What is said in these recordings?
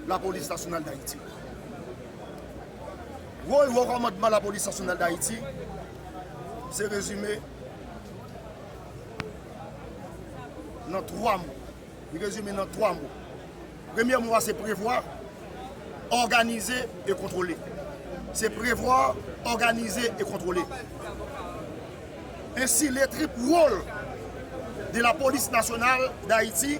Lapolis Nasyonal Dayiti Wòl Wo Kòmandman Lapolis Nasyonal Dayiti se rezime nan 3 mo. Li rezime nan 3 mo. Premye mo a se prevwa, òganize e kontwole. Se prevwa, òganize e kontwole. Ensi le trip wòl de Lapolis Nasyonal Dayiti.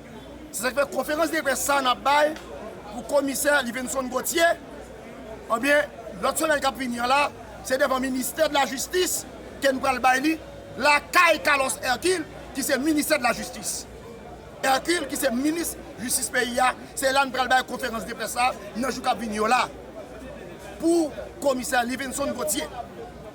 Se sa k fè konferans de près sa n ap bay pou komisè Livenson Gauthier ebyen lòt semèn k ap vini an la se devan ministè de la jistis ke n pral bay li lakay Carlos Hercule ki se ministè de la jistis Hercule ki se minis jistis peyi a se la n pral bay konferans de près sa nan jou k ap vini yo la pou komisè Livenson Gauthier.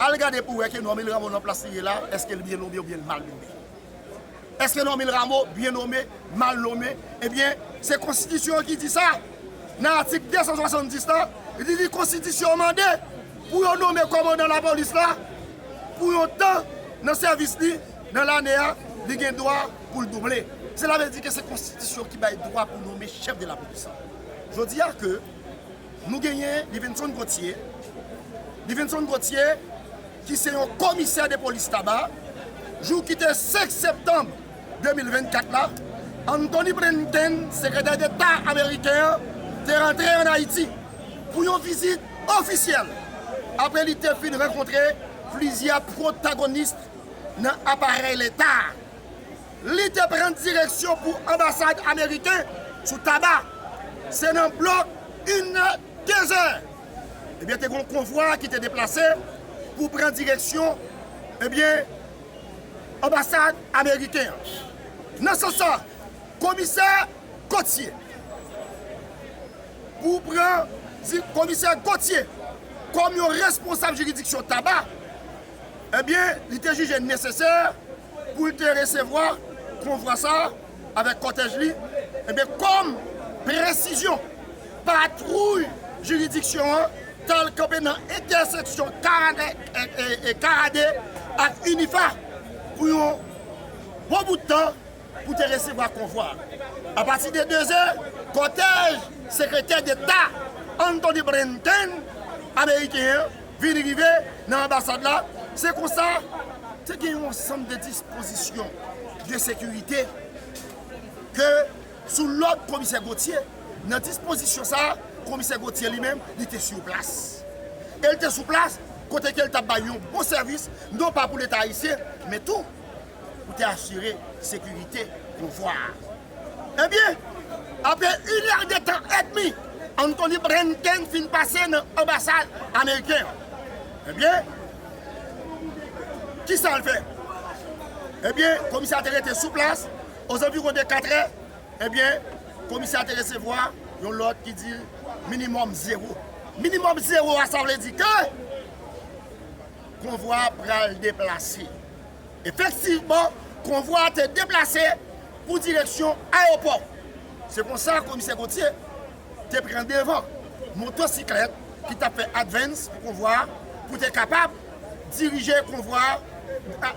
Al gade pou wè ke Normil Rameau nan plas li ye la, èske l byen nome oubyen l mal nome. Èske Normil Rameau byen nome, mal nome, ebyen se konstitisyon an ki di sa. Nan atik 270 la, li di konstitisyon an mande pou yo nome kòmandan lapolis la pou yon tan nan sèvis li nan lane a, li gen dwa pou l double. Sela vle di ke se konstitisyon ki bay dwa pou nome chèf de lapolis la. Jodi a ke. Nou genyen Livinson Gauthier, Livinson Gauthier ki se yon komisè de polis Taba, jou ki te 5 septanm 2024 la, Anthony Blinken, sekretè deta ameriken an, te rantre an Ayiti pou yon vizit ofisyèl apre li te fin rankontre plizyè pwotagonist nan aparèy leta a. Li te pran direksyon pou anbasad ameriken sou Taba. Se nan blòk inè, dezè, ebyen te gen yon konvwa ki te deplase pou pran direksyon, ebyen, anbasad ameriken an. Nan sans sa, komisè Gotye pou pran, komisè Gotye kòm yon responsab jiridiksyon Taba, ebyen, li te jije nesesè, pou l te resevwa konvwa sa a avèk kòtèj li, enben kòm presizyon, patwouy jiridiksyon an t al kanpe nan entèseksyon Karade ak Unifa pou yon bon bout tan pou te resevwa konvwa a. Apati de 2 zè, kòtèj Sekretè Deta Antony Blinken ameriken an vin rive nan anbasad la, se konsa te gen yon ansanm de dispozisyon de sekirite ke sou lòd komisè Gauthier, nan dispozisyon sa a komisè Gauthier li menm li te sou plas. E li te sou plas kote ke li tap bay yon bon sèvis non pa pou leta ayisyen men tou pou te asire sekirite pouvwa a. Ebyen, apre in èr de tan èdmi, Anthony Blinken fin pase nan anbasad ameriken an. Ebyen, ki sa l fè? Ebyen, komisè a te rete sou plas, ozanviwon de katrè, ebyen, komisè a te resevwa yon lòd ki di l minimòm zewo. Minimòm zewo a sa vle di ke konvwa a pral deplase. Efektivman, konvwa a te deplase pou direksyon ayewopò. Se konsa Komisè Gauthier te pran devan motosiklèt ki tap fè advance pou konvwa a pou te kapab dirije konvwa a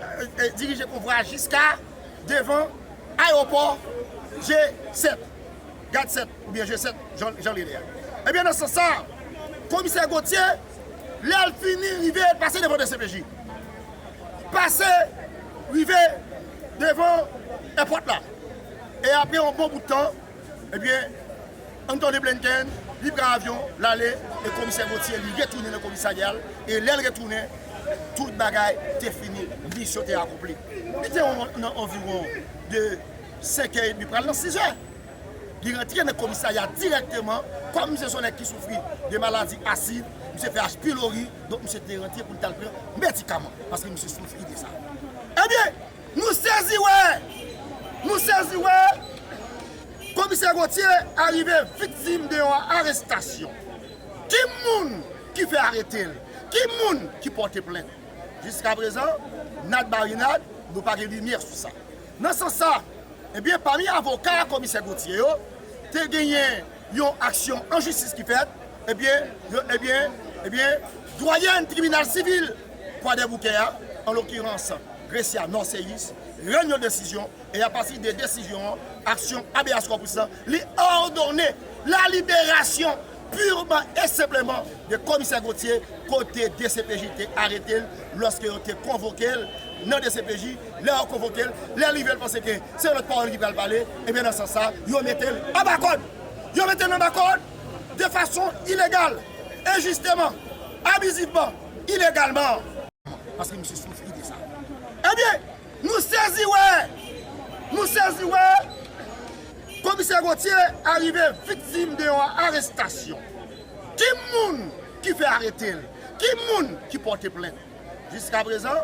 dirije konvwa a jiska devan ayewopò G7, Gad 7 oubyen G7 jan li rele a. Ebyen nan sans sa a, Komisè Gauthier. Lè l fini rive pase devan dcpj. Pase rive devan èpòt la. E apre yon bon bout tan, ebyen, an tande Blinken, li pran avyon, l ale, e komisè Gauthier li retounen nan komisarya l, e lè l retounen, tout bagay te fini, misyon te akonpli. Li te nan anviwon de 5 è edmi pral nan 6 è. Li rantre nan komisarya dirèkteman, kòm misye se yon nèg ki soufri de maladi asid, misye fè H. pylori, donk misye te rantre pou li t al pran medikaman, paske misye soufri de sa. Ebyen, nou sezi wè, nou sezi wè, Komisè Gauthier arive viktim de yon arestasyon. Ki moun ki fè arete l? Ki moun ki pòte plent? Jiskaprezan, nad marinad, nou pa gen limyè sou sa. Nan sans sa, ebyen pami avoka komisè Gauthier yo, te genyen yon aksyon an jistis ki fèt, ebyen, ebyen, ebyen, dwayèn tribinal sivil Kwadèboukè a, an lokirans Grecia Norceus, rann yon desizyon, e apati de desizyon an, aksyon Habeas Corpus lan, li òdone la liberasyon. purman e senpleman de Komisè Gauthier kote dcpj te arete l lòske yo te konvoke l nan dcpj, lè yo konvoke l, lè li rive l panse ke se yon lòt pawòl ki pral pale, ebyen nan sans sa yo mete l anba kòd! Yo mete l anba kòd de fason ilegal, enjisteman, abizivman, ilegalman! Paske misye soufri de sa. Ebyen! Nou sezi wè! Nou sezi wè! Komisè Gauthier arive viktim de yon arestasyon. Ki moun ki fè arete l? Ki moun ki pòte plent? Jiskaprezan,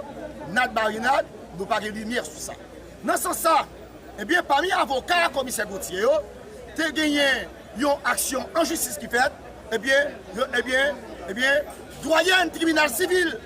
nad marinad, nou pa gen limyè sou sa. Nan sans sa, ebyen pami avoka Komisè Gauthier yo, te genyen yon aksyon an jistis ki fèt, ebyen, ebyen, ebyen, dwayèn tribinal sivil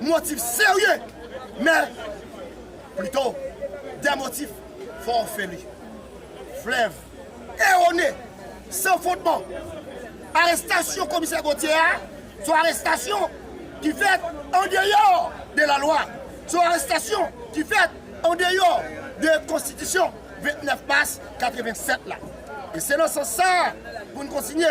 Motif serye, men plito de motif fo ofeli, flèv, erone, san fondman. Arestasyon komisè Gauthier a son arestasyon ki fèt an deyò de lalwa, son arestasyon ki fèt an deyò de konstitisyon 29 mas 87 la. E se nan sans sa a pou n kontinye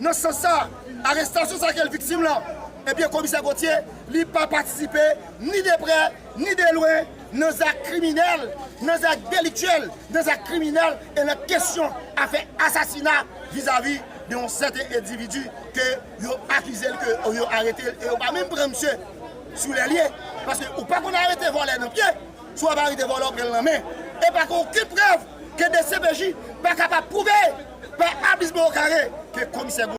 Nan sans sa, arestasyon sa ke l viktim lan, ebyen Komisè Gauthier, li pa patisipe ni de prè, ni de lwen nan zak kriminèl, nan zak deliktyèl, nan zak kriminèl e nan kesyon afè asasina vizavi de yon sèten endividi ke yo akize l, ke yo arete l e yo pa menm pran misye sou lè l ye. Paske ou pa konn arete vòlè nan pye. Sou avarite vòlò pran lan men e pa gen okenn prèv ke dcpj pa kapab pwouve pa abis bò kare ke komisè